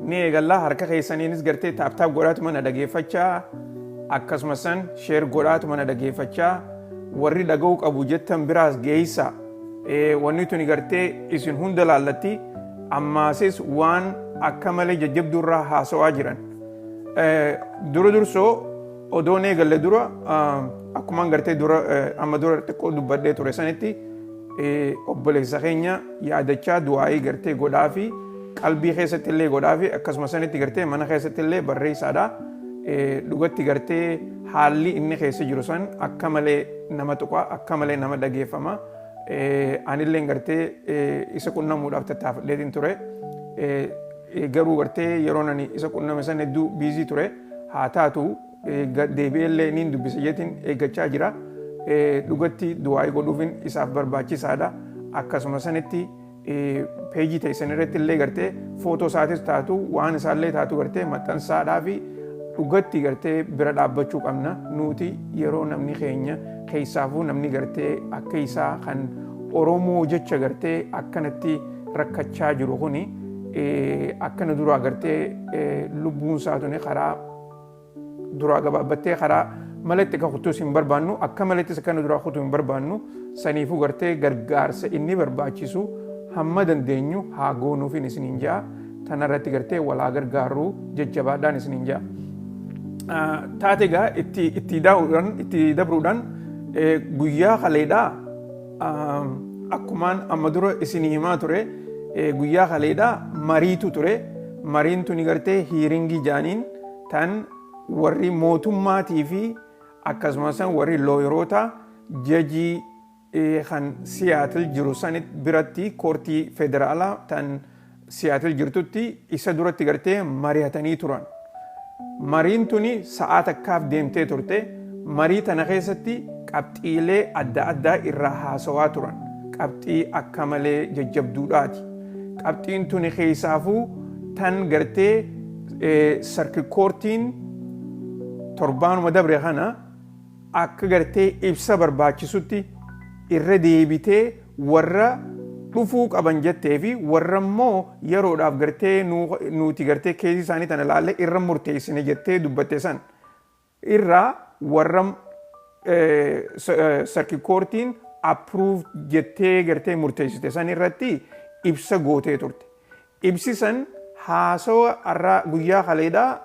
ni eegalla harka keessaniinis gartee taaptaap godhaatuma na dhageeffachaa akkasuma san sheer godhaatuma na dhageeffachaa warri dhaga'uu qabu jettan biraas geessa wanni tuni gartee isin hunda laallatti ammaasis waan akka malee jajjabduu irraa haasawaa jiran dura dursoo odoon eegalle dura akkumaan gartee dura amma dura xiqqoo dubbadhee ture sanitti obboleessa keenya yaadachaa du'aa'ii gartee godhaafi qalbii keessatti illee godhaafi akkasuma sanitti gartee mana keessatti illee barreessaadha. Dhugatti gartee haalli inni keessa jiru san akka malee nama tuqa akka malee nama dhageeffama. Anillee gartee isa qunnamuudhaaf tattaafadheetiin ture. Garuu gartee yeroo ani isa qunname san hedduu biizii ture haa taatu Gad deebi'ee illee niin dubbisa jeetiin eeggachaa jira. Dhugatti du'aa'ii godhuufin isaaf barbaachisaadha. Akkasuma sanitti peejii teessan irratti illee gartee footoo isaatis taatu waan isaallee taatu gartee maxxansaadhaa fi dhugatti gartee bira dhaabbachuu qabna. Nuti yeroo namni keenya keessaafuu namni gartee akka isaa kan Oromoo jecha gartee akkanatti rakkachaa jiru kuni akkana duraa gartee lubbuun isaa tuni karaa duraa gabaabbattee karaa mala itti akka kuttuus hin barbaannu akka malattis akka nu duraa kutu hin barbaannu saniifuu gartee gargaarsa inni barbaachisu hamma dandeenyu haa goonuufiin isiniin ja'a tanarratti gartee walaa gargaaruu jajjabaadhaan isiniin ja'a. Taate egaa itti dabruudhaan guyyaa kaleedhaa Akkumaan amma dura isinii himaa ture guyyaa kaleedha mariitu ture. Mariin tuni gartee hiiringii jaaniin tan warri mootummaatii fi akkasumas warri looyeroota jajii kan Siyaatil jiru sanit biratti koortii federaalaa tan Siyaatil jirtutti isa duratti gartee marihatanii turan. Mariin tuni sa'aa takkaaf deemtee turte. Marii tana keessatti qabxiilee adda addaa irraa haasawaa turan. Qabxii akka malee jajjabduudhaati. Qabxiin tuni keessaafuu tan gartee sarki koortiin torbaanuma dabre kana akka gartee ibsa barbaachisutti irra deebitee warra dhufuu qaban jettee fi warra immoo yeroodhaaf gartee nuuti gartee keezii isaanii tana laallee irra murteessine jettee dubbatte san irraa warra sarki koortiin approve jettee gartee murteessite san irratti ibsa gootee turte. Ibsi san haasawa arraa guyyaa kaleedhaa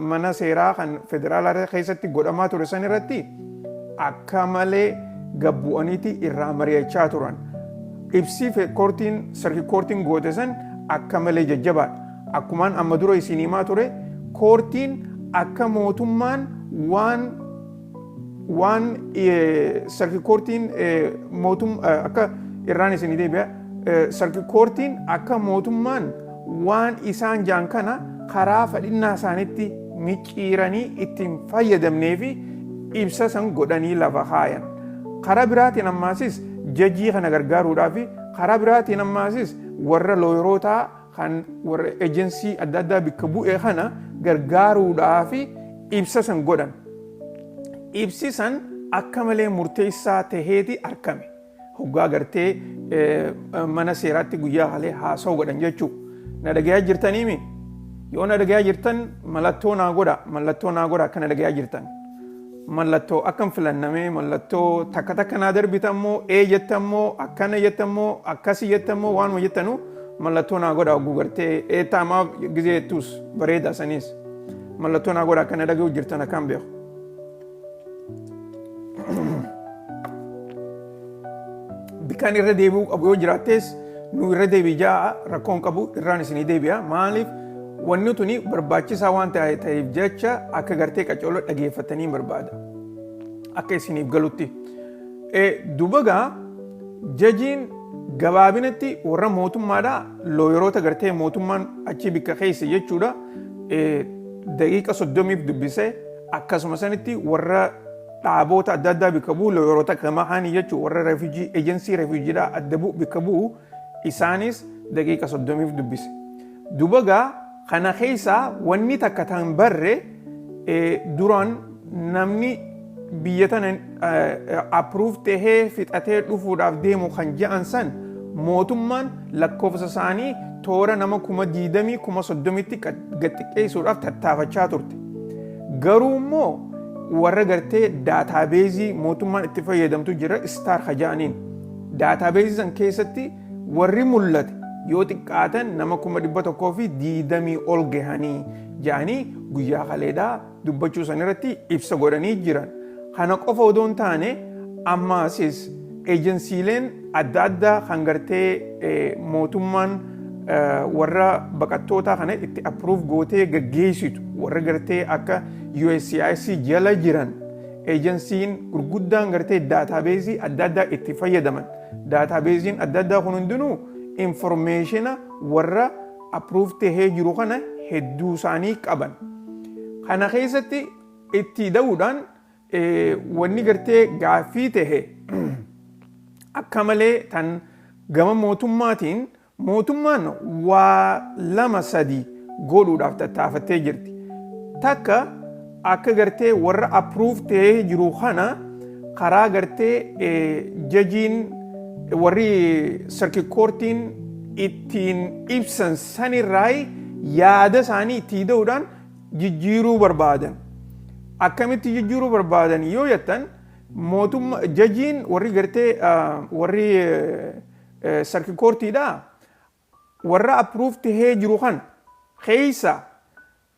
mana seeraa kan federaalaa keessatti godhamaa ture san irratti akka malee gad bu'aniiti irraa mari'achaa turan. Ibsi koortiin circuit koortiin goote san akka malee jajjabaadha. Akkumaan amma dura isiin himaa ture koortiin akka mootummaan waan waan sarki koortiin mootum akka irraan isinii deebi'a sarki koortiin akka mootummaan waan isaan jaan kana karaa fadhinnaa isaanitti micciiranii ittiin fayyadamnee fi ibsa san godhanii lafa kaayan. Karaa biraatiin ammaasis jajii kana gargaaruudhaa fi karaa biraatiin ammaasis warra looyirootaa kan warra ejensii adda addaa bikka bu'e kana gargaaruudhaaf ibsa san godhan. Ibsi san akka malee murteessaa taheeti arkame. Hoggaa gartee mana seeraatti guyyaa halee haasa'u godhan jechuu. Na dhagayaa jirtaniimi? Yoo na dhagayaa jirtan mallattoo naa godha, mallattoo naa godha akka na dhagayaa jirtan. Mallattoo akkan filanna mee mallattoo takka takka naa darbitan moo ee jettan moo akkana jettan moo akkasi jettan moo waanuma jettanu mallattoo naa godha ogguu gartee dheettaa maaf gizee jettuus bareeda saniis mallattoo naa godha akkana dhaga'u jirtan akkaan beeku. Bikaan irra deebi'uu qabu yoo jiraattees nu irra deebi'i ja'a rakkoon qabu irraan isinii deebi'a maaliif wanni tuni barbaachisaa waan ta'e- ta'eef jecha akka gartee qacooloo dhageeffatanii barbaada akka isiniif galutti. Eh, Dubagaa jajiin gabaabinatti warra mootummaadha looyeroota gartee mootummaan achi bikka keessa jechuudha eh, daqiiqa soddomiif dubbisee akkasuma sanitti warra dhaaboota adda addaa bikka bu'u looyoroota akka namaa haanii jechuun warra refugee ejensii refuujiidhaa adda bu'u bikka bu'u isaanis daqiiqa soddomiif dubbise. Dubagaa kana keessaa wanni takka tan barre duraan namni biyya tana approve tahee fixatee dhufuudhaaf deemu kan ja'an san mootummaan lakkoofsa isaanii toora nama kuma diidamii kuma soddomitti gad xiqqeessuudhaaf tattaafachaa turte. Garuu immoo warra gartee daataabeezii mootummaan itti fayyadamtu jira istaar ka ja'aniin. Daataabeezii san keessatti warri mul'ate yoo xiqqaatan nama kuma dhibba tokkoo fi diidamii ol gahanii ja'anii guyyaa kaleedhaa dubbachuu san irratti ibsa godhanii jiran. Kana qofa odoo hin taane ammaasis ejensiileen adda addaa kan gartee mootummaan warra baqattootaa kana itti approve gootee gaggeessitu warra gartee akka USCIS jala jiran ejensiin gurguddaan gartee daataabeezii adda addaa itti fayyadaman daataabeeziin adda addaa kun hundinuu informeeshina warra approve tahee jiru kana hedduu isaanii qaban. Kana keessatti Itti da'uudhaan wanni gartee gaaffii ta'e akka malee tan gama mootummaatiin mootummaan waa lama sadi godhuudhaaf tattaafattee jirti. Takka akka gartee warra approve ta'ee jiru kana karaa gartee jajiin warri circuit courtiin ittiin ibsan sanirraa yaada isaanii itti da'uudhaan jijjiiruu barbaadan. Akkamitti jijjiiruu barbaadan yoo jettan mootumma jajiin warri gartee warri sarki koortiidha warra approve tahee jiru kan keessa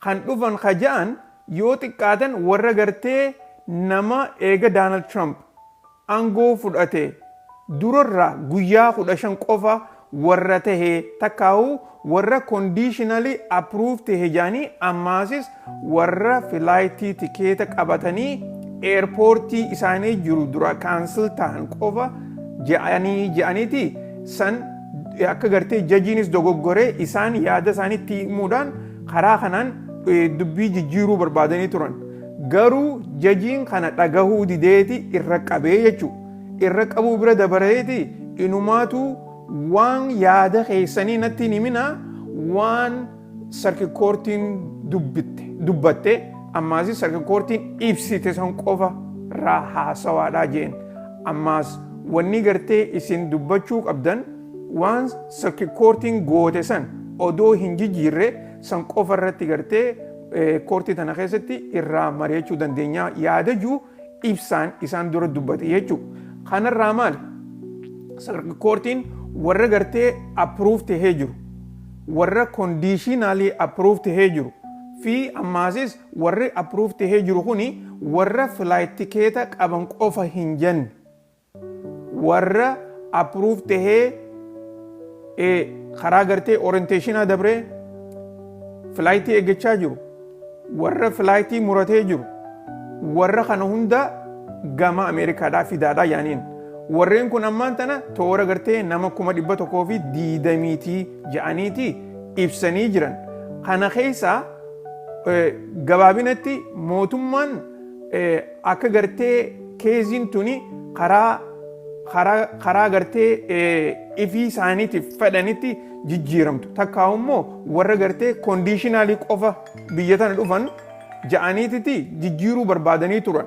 kan dhufan ka ja'an yoo xiqqaatan warra gartee nama eega Daanald Tiraamp angoo fudhate durarra guyyaa 15 qofa warra tahe takkaahu warra conditionally approved tahe jedhanii ammaasis warra flight tikeeta qabatanii airport isaanii jiru dura cancel tahan qofa jedhanii jedhaniti san akka gartee jajiinis dogoggore isaan yaada isaanii itti himuudhaan karaa kanaan dubbii jijjiiruu barbaadanii turan. Garuu jajiin kana dhagahuu dideeti irra qabee jechu. Irra qabuu bira dabareeti inumaatu waan yaada keessanii natti hin himinaa waan sarki koortiin dubbitte dubbatte ammaasi sarki koortiin ibsite san qofa raa haasawaadhaa jeen. Ammaas wanni gartee isin dubbachuu qabdan waan sarki koortiin goote san odoo hin jijiirre san qofa irratti gartee Koortii tana keessatti irraa mari'achuu dandeenya yaada jiru ibsaan isaan dura dubbate jechuudha. Kanarraa maali? Koortiin warra gartee approve tahee jiru, warra conditionally approve tahee jiru fi ammaasis warri approve tahee jiru kuni warra flight tikeeta qaban qofa hin jenne. warra approve tahee eh, karaa gartee orientationaa dabree filaayitii eeggachaa jiru warra filaayitii muratee jiru warra kana hunda gama ameerikaadhaa fidaadhaa yaaniin warreen kun ammaan tana toora gartee nama kuma dhibba tokkoo fi diidamiitii ja'aniitii ibsanii jiran kana keessaa eh, gabaabinatti mootummaan eh, Akka gartee keeziin tuni karaa karaa karaa gartee ifii isaaniitiif fedhanitti jijjiiramtu takkaa immoo warra gartee kondiishinaalii qofa biyya tana dhufan ja'aniititi jijjiiruu barbaadanii turan.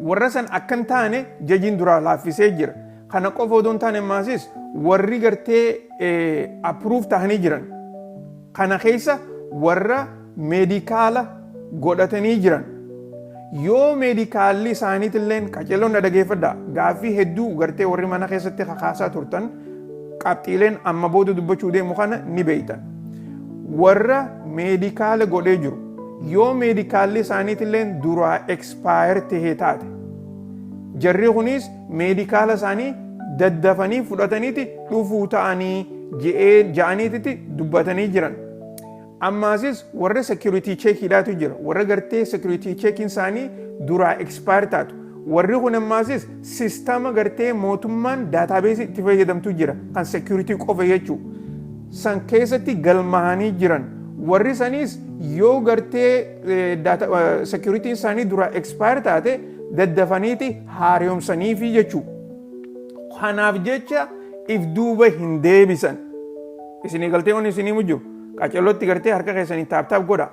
Warra san akka hin taane jajiin duraa laaffisee jira. Kana qofa odoo hin taane maasis warri gartee approve tahanii jiran. Kana keessa warra meedikaala godhatanii jiran yoo meedikaalli isaaniitilleen qaceelloon na dhageeffadha gaaffii hedduu gartee warri mana keessatti kakaasaa turtan qabxiileen amma booda dubbachuu deemu kana ni beektan warra meedikaala godhee jiru yoo meedikaalli isaaniitilleen duraa ekspaayer tahee taate jarri kunis meedikaala isaanii daddafanii fudhataniiti dhufuu ta'anii ja'aniititti dubbatanii jiran. Ammaasis warra security check dhaatu jira. Warra gartee security check isaanii duraa expire taatu. Warri kun ammaasis sistama gartee mootummaan database itti fayyadamtu jira. Kan security qofa jechuu. San keessatti galmahanii jiran. Warri saniis yoo gartee security isaanii duraa expire taate daddafaniiti haaromsaniifi jechuu. Kanaaf jecha if duuba hin deebisan. Isinii galtee wanni isinii mujjiru. Qacellotti gartee harka keessaniin taap taap godha.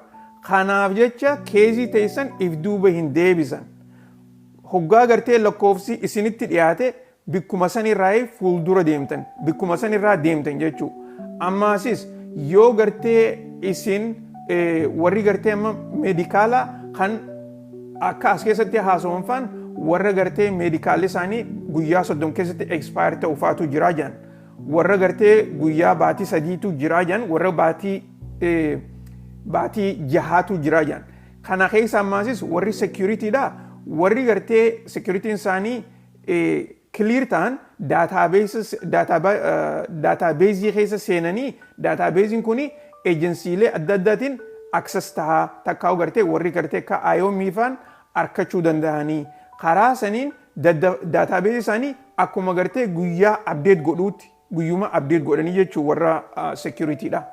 Kanaaf jecha keezii teessan if duuba hin deebisan. Hoggaa gartee lakkoofsi isinitti dhiyaate bikkuma sanirraa fuuldura deemtan bikkuma sanirraa deemtan jechuu. Ammaasis yoo gartee isin warri gartee amma meedikaala kan akka as keessatti haasawamfaan warra gartee meedikaalli isaanii guyyaa soddom keessatti expire ta'u faatu jiraa jedhan. Warra gartee guyyaa baatii sadiitu jiraa jedhan warra baatii baatii jahaatu jiraa jedhan. Kana keessa ammaasis warri seekiyuritiidha warri gartee seekiyuritiin isaanii kiliir ta'an daataabeezii keessa seenanii daataabeeziin kun ejensiilee adda addaatiin aksas tahaa takkaa gartee warri gartee akka IOM faan arkachuu danda'anii karaa saniin Dadda database isaani akkuma gartee guyyaa update godhuutti guyyuma update godhanii jechuu warra security dha.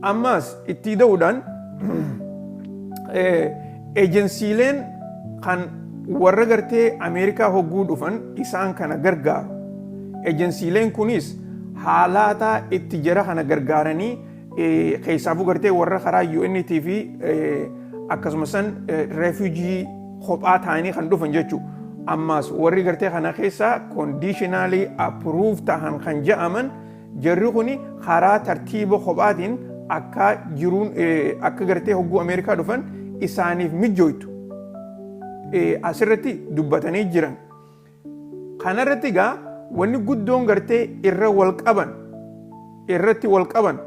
Ammaas ittii da'uudhaan ejensiileen kan warra gartee Ameerikaa hogguu dhufan isaan kana gargaaru. Ejensiileen kunis haalaataa itti jara kana gargaaranii Keessaafuu gartee warra karaa UNT fi akkasumas san refuujii kophaa ta'anii kan dhufan jechuudha. Ammaas warri gartee kana keessaa kondiishinaalii appiruuf ta'an kan ja'aman jarri kun karaa tartiiba kophaatiin akka jiruun akka gartee hogguu Ameerikaa dhufan isaaniif mijjooytu asirratti dubbatanii jiran. Kana irratti egaa wanni guddoon gartee irra wal qaban irratti wal qaban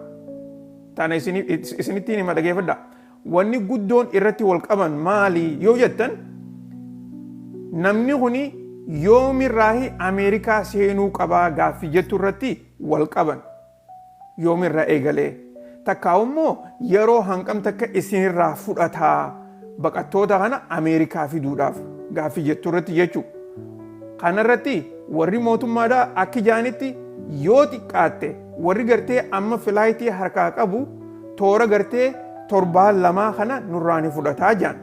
tana isini- is- isinittiin hima dhageeffadha. Wanni guddoon irratti wal qaban maali yoo jettan namni kuni yoomirraahi Ameerikaa seenuu qabaa gaaffii jettu irratti wal qaban. Yoom irraa eegalee? Takkaahuu immoo yeroo hangam takka isin irraa fudhata baqattoota kana Ameerikaa fiduudhaaf gaaffii jettu irratti jechuu. Kana irratti warri mootummaadhaa akki jaanitti yoo xiqqaatte warri gartee amma filaayitii harkaa qabu toora gartee torbaan lamaa kana nurraa ni fudhataa jaan.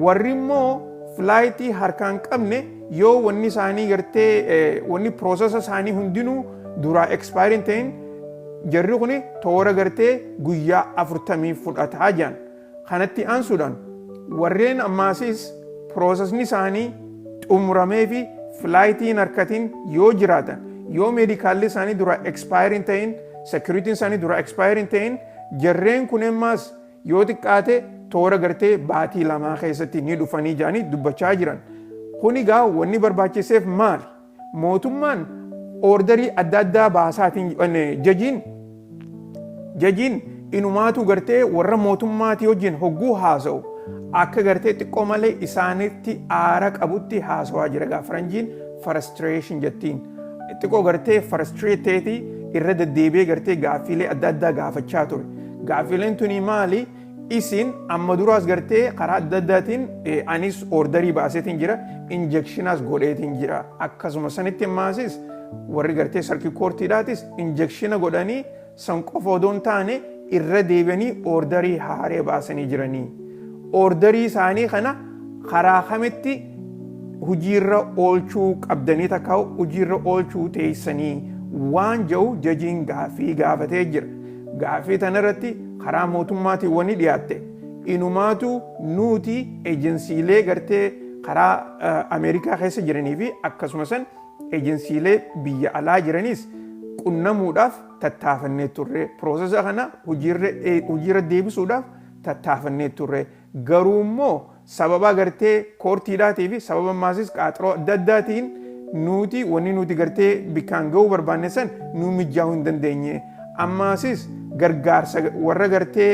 Warri immoo filaayitii harkaan qabne yoo wanni isaanii gartee wanni piroosesa isaanii hundinuu duraa ekspaayirii hin ta'in jarri kun toora gartee guyyaa afurtamii fudhataa jiran. Kanatti aansuudhaan warreen ammaasis piroosesni isaanii xumuramee fi filaayitii hin harkatin yoo jiraatan yoo meedikaalli isaanii duraa ekspaayirii hin ta'in sekiriitiin isaanii duraa ekspaayirii hin ta'in jarreen kun ammaas Yoo xiqqaate toora gartee baatii lamaa keessatti ni dhufanii jedhanii dubbachaa jiran. Kun egaa wanni barbaachiseef maali? Mootummaan oordarii adda addaa baasaatiin jajiin jajiin inumaatuu gartee warra mootummaatii wajjin hogguu haasa'u akka gartee xiqqoo malee isaanitti aara qabutti haasawaa jira egaa faranjiin frustration jettiin. Xiqqoo gartee frustrate ta'eeti irra deddeebi'ee gartee gaaffiilee adda addaa gaafachaa ture. Gaaffileen tunii maali? Isin amma duraas gartee karaa adda addaatiin anis ordarii baaseetiin jira, injekshinaas godheetiin jira. Akkasuma sanitti maasis warri gartee sarkii koortiidhaatis injekshina godhanii san qofa odoo hin taane irra deebi'anii ordarii haaree baasanii jiranii. Ordarii isaanii kana karaa kamitti hojiirra oolchuu qabdanii takka hojiirra oolchuu teessanii waan jedhu jajiin gaaffii gaafatee jira. Gaaffii tana irratti karaa mootummaatiin wani dhiyaatte inumaatu nuuti ejensiilee gartee karaa Ameerikaa keessa jiranii fi akkasumasan ejensiilee biyya alaa jiraniis qunnamuudhaaf tattaafannee turre. Process kana hojiirra deebisuudhaaf tattaafannee turre. Garuu immoo sababaa gartee koortiidhaatii fi sababa maasis qaaxroo adda addaatiin nuuti wanni nuuti gartee bikkaan ga'uu barbaanne san nuu mijjaahuu hin dandeenye. Ammaasis gargaarsa warra gartee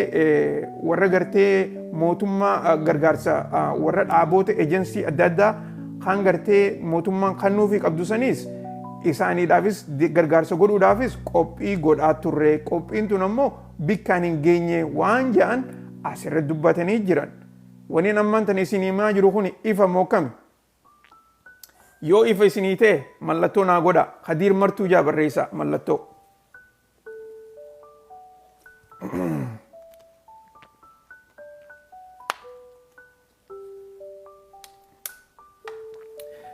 warra gartee mootummaa gargaarsa warra dhaaboota ejensii adda addaa kan gartee mootummaan kannuufii qabdu saniis isaaniidhaafis gargaarsa godhuudhaafis qophii godhaa turre. Qophiin tun ammoo bikkaan hin geenye waan ja'an as irra dubbatanii jiran. Waniin ammaan tan isin himaa jiru kun ifa moo kami? Yoo ifa isinii ta'e mallattoo naa godha. Kadiir martuu jaa barreessa mallattoo.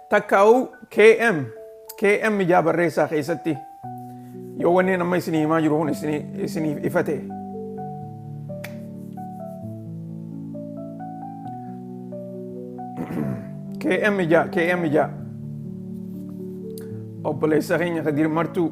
takkaa'uu KM KM ijaa barreessaa keessatti yoo wanneen amma isinii himaa jiru kun isiniif ifa ta'e. KM ijaa KM ijaa obboleessa keenya Kadir Martuu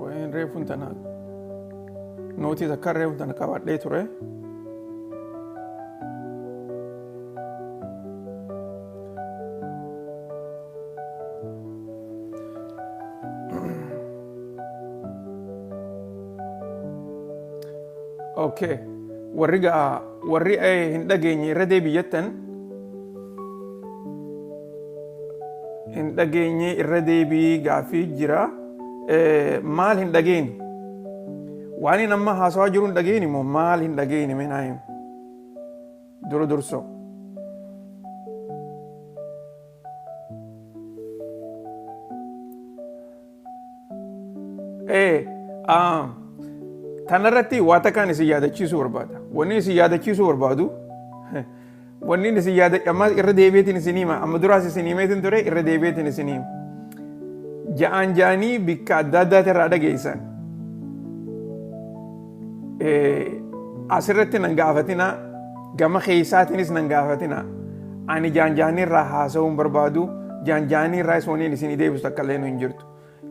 Waa'een reefuun tana nootii takka reefuun tana qabadhee ture. Okay. Warri gaa warri eh, hin dhageenye irra deebiyyattan hin dhageenye irra deebii gaaffii jira maal hin dhageeni waan hin amma haasawaa jiru hin dhageeni moo maal hin dhageeni mee naa himi dura dursoo Ee, ah, tanarratti waa takkaan isin yaadachiisuu barbaada. Wanni isin yaadachiisuu barbaadu, wanni isin yaada, amma irra deebiitiin isin hima, amma duraas isin himeetiin ture, irra deebiitiin isin hima. Ja'aan ja'anii bikka adda addaatii irraa dhageessan. Asirratti nan gaafatinaa gama keessaatiinis nan gaafatinaa ani jaanjaanii irraa haasa'uun barbaadu jaanjaanii irraa isoonin isin deebisu akka illee hin jirtu.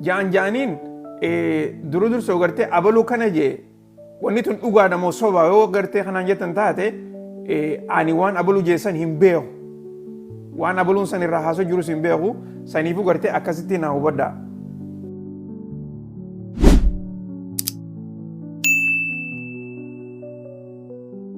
Jaanjaaniin duru dursa gartee abaluu kana jee wanni tun dhugaadha moo soba yoo gartee kanaan jettan taate ani waan abaluu jeessan hin beeku. Waan abaluun san irraa haasoo jirus hin beeku saniifuu gartee akkasitti naa hubadhaa.